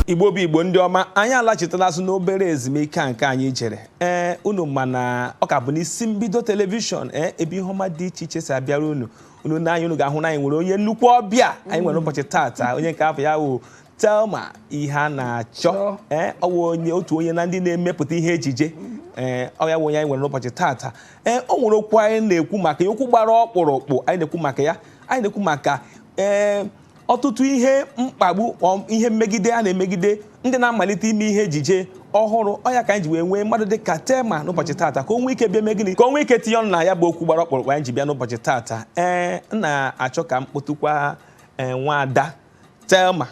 igbo bụ igbo ndị ọma anyị alachitela azụ n'obere ezumike nke anyị jere ee unu ma na ọ ka bụ n'isi mbido telivishọn ee ebe ihe ọma dị iche iche si abịara unu unu nee anya unu ga-ahụ na anyị nwere onye nnukwu ọbịa anyị nwere ụbọchị tata onye nke afa ya wụ Thelma Iheanachọ ee ọ wụ onye otu onye na ndị na-emepụta ihe ejije ee ọ ya wụ onye anyị nwere n'ụbọchị taata ee o nwere okwu anyị na-ekwu maka ya okwu gbara ọkpụrụkpụ anyị na-ekwu maka ya anyị na-ekwu maka ee ọtụtụ ihe mkpagbu ọ- ihe mmegide a na-emegide ndị na-amalite ime ihe ejije ọhụrụ ọ ya ka anyị ji wee nwee mmadụ dị ka Thelma n'ụbọchị taata ka o nwee ike bịa mee gịnị ka o nwee ike tinye ọnụ na ya bụ okwu gbara ọkpụrụkpụ anyị ji bịa n'ụbọchị taata ee m na-achọ ka m kpọtụkwa ee nwaada Thelma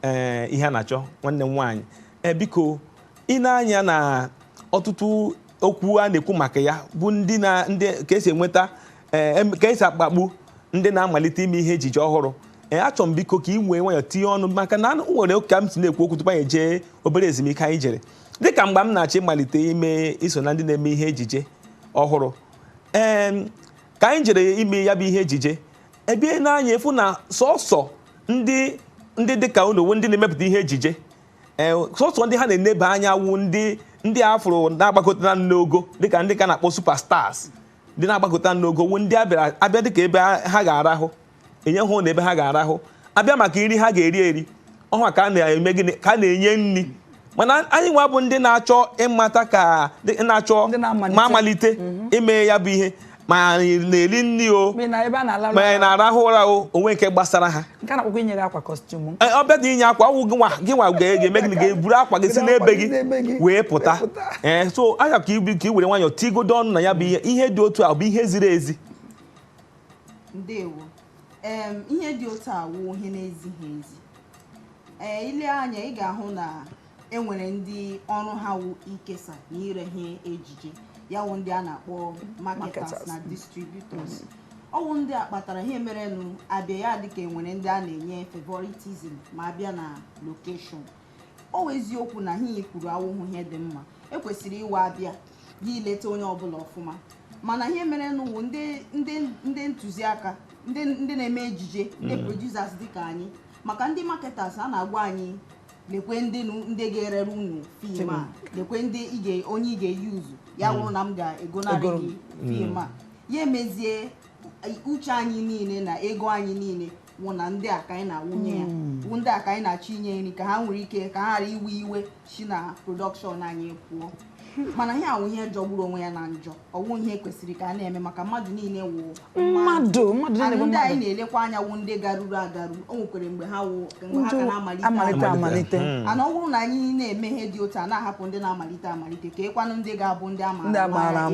ee Iheanachọ nwanne m nwaanyị ee biko i nee anya na ọtụtụ okwu a na-ekwu maka ya bụ ndị na ndị ka e si enweta ee em- ka e si akpagbu ndị na-amalite ime ihe ejije ọhụrụ ee achọrọ m biko ka i were nwayọ tinye ọnụ maka na o nwere ka m si na-ekwu okwu tupu anyị jee obere ezumike anyị jere dịka mgbe m na-achọ ịmalite ime iso na ndị na-eme ihe ejije ọhụrụ ee ka anyị jere ime ya bụ ihe ejije ebe i nee anya ị fụ na sọsọ ndị ndị dịka unu wụ ndị na-emepụta ihe ejije ee sọsọ ndị ha na-eneba anya wụ ndị ndị a fụrụ na-agbakọta n'ogo dịka ndị ka a na-akpọ superstars ndị na-agbakọta n'ogo wụ ndị a bịa dịka ebe ha ga-arahụ e nye ha na ebe ha ga-arahụ a bịa maka nri ha ga-eri eri ọ ha ka a na-eme gịnị ka a na-enye nri mana anyị nwa bụ ndị na-achọ ịmata ka na-achọ ma malite mhm. ime ya bụ ihe ma anyị na-eri nri o ma anyị na-arahụ ụra o o nweghị nke gbasara ha ọ bịa dị inye akwa ọ wụ gị nwa ga-eme gịnị ga-eburu akwa gị si n'ebe gị wee pụta ee eh, so anya ka ibi ka i were nwayọọ tigodu ọnụ na ya bụ ihe ihe dị otu a bụ ihe ziri ezi ndewo em ihe dị otu a wụ ihe na-ezighi ezi ee i lee anya ị ga-ahụ na e nwere ndị ọrụ ha wụ ikesa na ire ihe ejije ya wụ ndị a na-akpọ marketers Marketers. na distributors ọ wụ ndị a kpatara ihe merenụ a bịa ya dịka e nwere ndị a na-enye favoritism ma a bịa na location ọ wụ eziokwu na ihe i kwuru awụhụ ihe dị mma e kwesịrị ịwụ a bịa gị ileta onye ọbụla ọfụma mana ihe merenụ wụ ndị ntụziaka ndị na-eme ejije ndị mm. producers dịka anyị maka ndị marketers a na-agwa anyị lekwe ndị ndị ga-erere unu fim a lekwe ndị onye ị ga-eyuzu ya mm. wụrụ na m ga-egonarị gị fim a mm. ya emezie uche anyị niile na ego anyị niile wụ na ndị a ka anyị na-awụnye ya hmm. wụ ndị a ka anyị na-achọ inye nri ka ha nwere ike ka ha ghara iwe iwe si na production anyị pụọ mana ihe a wụ ihe jọgburu onwe ya na njọ ọ wụ ihe kwesịrị ka a na-eme maka mmadụ niile wụ mmadụ ndị anyị na-elekwa anya wụ ndị garuru agaru o nwekwere mgbe ha wụ mgbe ha ka na-amalite amalite hmm. and ọ bụrụ na anyị na-eme ihe dị otu a na-ahapụ ndị na-amalite amalite keekwanụ ndị ga-abụ ndị a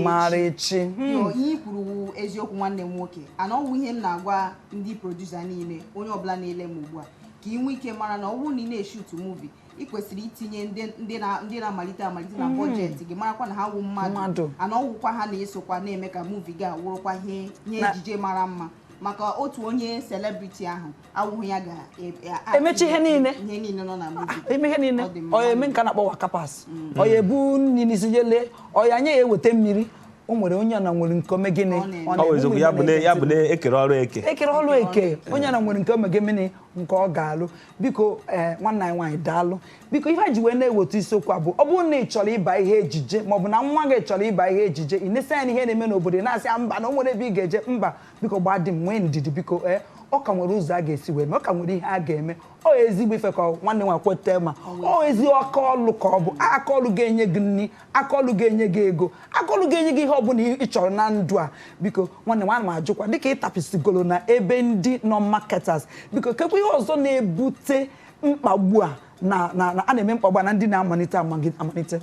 maara echi hmm. ihe i kwuru wụ eziokwu nwanne m nwoke and ọ wụ ihe m na-agwa ndị producer niile onye ọbụla na-ele m ugbu a ka ị nwee ike mara na ọ bụrụ na ị na-eshoot movie ị kwesịrị itinye ndị ndị na- ndị na-amalite amalite na budget gị marakwa na ha wụ Mmadụ. mmadụ and ọ wụkwa ha na-esokwa na-eme ka movie gị a wụrụkwa ihe ihe Na- ejije mara mma maka otu onye celebrity ahụ awụhụ ya ga e- e- a- Emechi ihe niile. ihe niile nọ na movie ime ihe niile Ọ dị mma. ọ ya eme nke a na-akpọ waka pass ọ ya ebu nri n'isi jele ọ ya nye ya eweta mmiri o nwere onye ọbụla nwere nke o me gịnị Ọ na-eme. ọ ọ na-eme, bụ eziokwu ụmụ ya bụ na ya bụ na na-ete e kere ọrụ eke e kere ọlụ eke onye ọbụla nwere nke o me gịnị nke ọ ga-alụ biko ee nwanne anyị nwaanyị daalụ biko ihe a ji wee na-eweta isiokwu a bụ ọ bụrụ na ị chọrọ ịba ihe ejije maọbụ na nwa gị chọrọ ịba ihe ejije ị na-esi anya n'ihe na-eme n'obodo ị na-asị ya mba na o nwere ebe ị ga-eje mba biko gbaa dị m nwee ndidi biko ee ọ ka nwere ụzọ a ga-esi wee mee ọ ka nwere ihe a ga-eme ọ ezigbo ife ka ọ- nwanne nwa kweta ma ọ ezi aka ọlụ ka ọ bụ aka ọlụ ga-enye gị nri aka ọlụ ga-enye gị ego aka ọlụ ga-enye gị ihe ọbụla ị chọrọ na ndụ a biko nwanne nwaanyị m jụkwa dịka ị tapisigolo na ebe ndị nọ marketers biko kekwa ihe ọzọ na-ebute mkpagbu a na na na- a na-eme mkpagbu a na ndị na-amalite amagi- amalite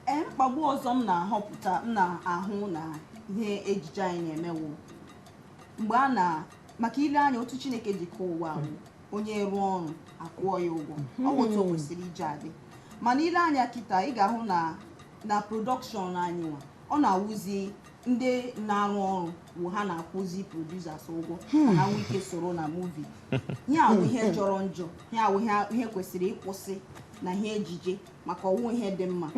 ee mkpagbu ọzọ m na-ahụpụta m na-ahụ na ihe ejije anyị na-eme wụ mgbe a na maka i lee anya otu Chineke ji kee ụwa ahụ, onye rụọ ọrụ a kwụọ ya ụgwọ ọ wụ otu o kwesịrị iji adị mana i lee anya kịta ị ga-ahụ na na production anyị nwa ọ na-awụzi ndị na-arụ ọrụ wụ ha na-akwụzi producers ụgwọ ka ha nwee ike soro na movie ihe a wụ ihe jọrọ njọ ihe a wụ ihe- ihe kwesịrị ịkwụsị na ihe ejije maka ọ wụhụ ihe dị mma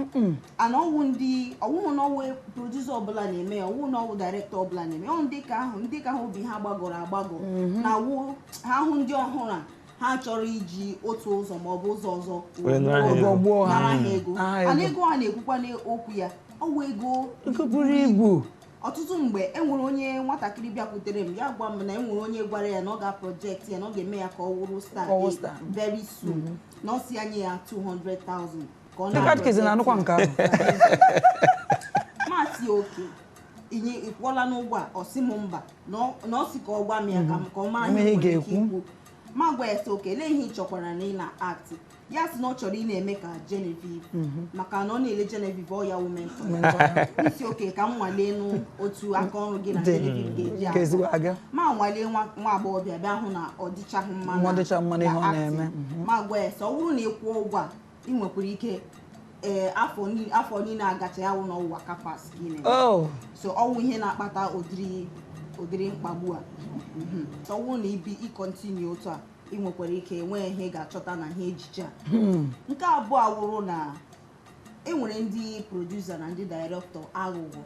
and ọ wụ ndị ọ wụhụ na ọ wụ producer ọbụla na-eme ya ọ wụhụ na ọ wụ director ọbụla na-eme ya. ọ ndị ka ahụ ndị ka ahụ obi ha gbagọrọ agbagọ na-awụ ha hụ ndị ọhụrụ a ha chọrọ iji otu ụzọ ma ọ bụ ụzọ ọzọ Wee nara ha ego. gbuo ha nara ha ego Nara ha and ego. ego a na-ekwukwa n'okwu ya ọ wụ ego ego buru ibu ọtụtụ mgbe e nwere onye nwatakịrị bịakwutere m ya gwa m na e nwere onye gwara ya na ọ ga-project ya na ọ ga-eme ya ka ọ wụrụ star Ka ọ wụrụ eh, star. very soon na ọ sị ya nye ya 200,000 ka ọ ndị katkezi na-anụkwa nke ahụ m asị okay inye ị kwụọlanụ ụgwọ a ọ sị m mba na ọ- na ọ sị ka ọ gwa m ya ka m- ka ọ mara Ihe ihe ị m nwere ike ga-ekwu. ikwu mụ agwa ya sị oke lee ihe ị chọkwaranụ ị na-aktị ya sị na ọ chọrọ ị na-eme ka Genevieve maka na ọ na-ele Genevieve ọ ya wụ mentor m sị oke ka m nwaleenụ otu aka ọrụ gị na Dị. Genevieve ga-eji Ka ezigbo aga. aga. mụ anwalee nwa nwa agbọghọbịa bịa hụ na ọ dịchaghị mma Ọ dịchaghị mma n'ihe ọ na-eme. acting. mụ agwa ya sị ọ bụrụ na ị kwụọ ụgwọ a ị nwekwara ike ee afọ ni- afọ niile agacha ya wụrụ na ọ wụ waka pass ka ị na-eme oh so ọ wụ ihe na-akpata ụdịrị ụdịrị mkpagbu a Mhm. so ọ wụrụ na ibi ịkọntinu otu a ị nwekwara ike nwee ihe ị ga-achọta na ihe ejije a nke abụọ awụrụ na e nwere ndị produsa na ndị dairektọ aghụghọ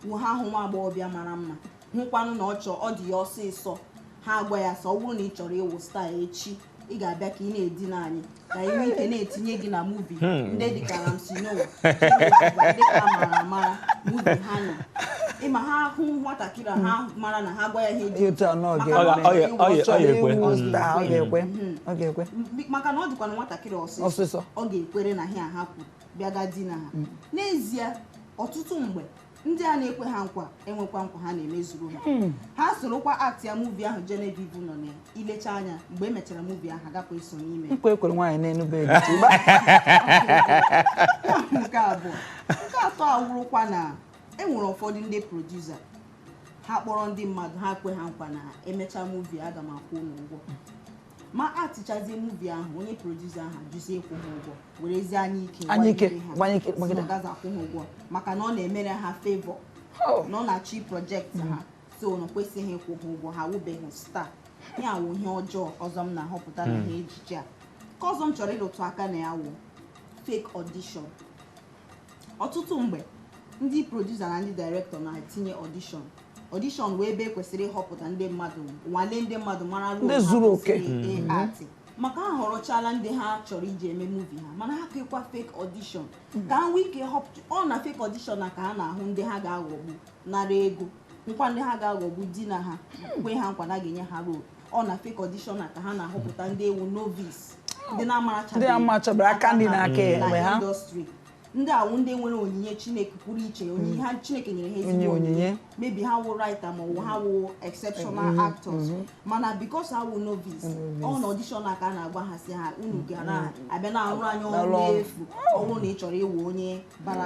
wụ ha hụ nwa agbọghọbịa mara mma hụkwanụ na ọ chọọ ọ dị ya ọsịsọ ha agwa ya sị ọ bụrụ na ị chọrọ ịwụ staa echi ị ga-abịa ka ị na-edina anyị ka anyị nwee ike na-etinye gị na muvi ndị dịka Ramsey Nouah ndị ka mara amara muvi ha nọ ị ma ha hụ nwatakịrị a, ha mara na ha gwa ya ihe dị Etu a na ọ maka ga- na ọ Ọ ga- ọ ga- ga- ọ chọrọ ga-ekwe. ịwụ staa ọ ga-ekwe ọ ga-ekwe M- maka na ọ dịkwanụ nwatakịrị ọsịsọ Ọsịsọ. ọ ga-ekwere na ihe ha kwuru bịaga dina ha n'ezie ọtụtụ mgbe ndị a na-ekwe ha nkwa enwekwa nkwa ha na-emezuru ha hmm. ha sorokwa aktịa muvi ahụ Genevieve nọ na i lechaa anya mgbe e mechara muvi ahụ agakwa eso n'ime nkwa e kwere nwaanyị n'enu bed nke abụọ nke atọ awụrụkwa na e nwere ụfọdụ ndị produsa ha kpọrọ ndị mmadụ ha kwe ha nkwa na e mechaa muvi aga m akwụ unu ụgwọ ma atịchazie muvi ahụ onye produsa ahụ ajụzie ịkwụ ha ụgwọ werezie anya ike Anya ike, gbagide ha. gbanye ike, Si gbagide. na ọ gaghịzi akwụ ha ụgwọ maka na ọ na-emere ha favor Oh. na ọ na-achọ iprojekt ha so na o kwesịghị ịkwụ ha ụgwọ ha wụbeghị star ihe a wụ ihe ọjọọ ọzọ m na-ahọpụta na ihe ejije a nke ọzọ m chọrọ ịrụtụ aka na ya wụ fake audition ọtụtụ mgbe ndị produsa na ndị direktọ na-etinye ọdishọn ọdishọn wụ ebe e kwesịrị ịhọpụta ndị mmadụ nwale ndị mmadụ mara ndị zuru oke atị maka ha ahọrọchala ndị ha chọrọ iji eme muvi ha mana ha kekwa fake ọdishọn ka ha nwee ike họpụta ọ na fake ọdishọn a ka ha na-ahụ ndị ha ga-aghọgbu nara ego kwa ndị ha ga-aghọgbu di na ha kwe ha nkwa na a ga-enye ha rol ọ na fake audition a ka ha na-ahọpụta ndị wụ novice ndị na-amachabeghị aka ndị na-aka enwe ha industry ndị a wụ ndị nwere onyinye chineke pụrụ iche onyinye ha chineke nyere ha ezigbo onyinye maybe ha wụ writer ma ọ wụ ha wụ exceptional mm-hmm. actors mm-hmm. mana because ha wụ novice ọ na audition a ka a na-agwa ha sị ha unu ga na-abịa mm-hmm. na-arụrụ anyị ọrụ efu ọ bụrụ na ị chọrọ ịwụ onye bara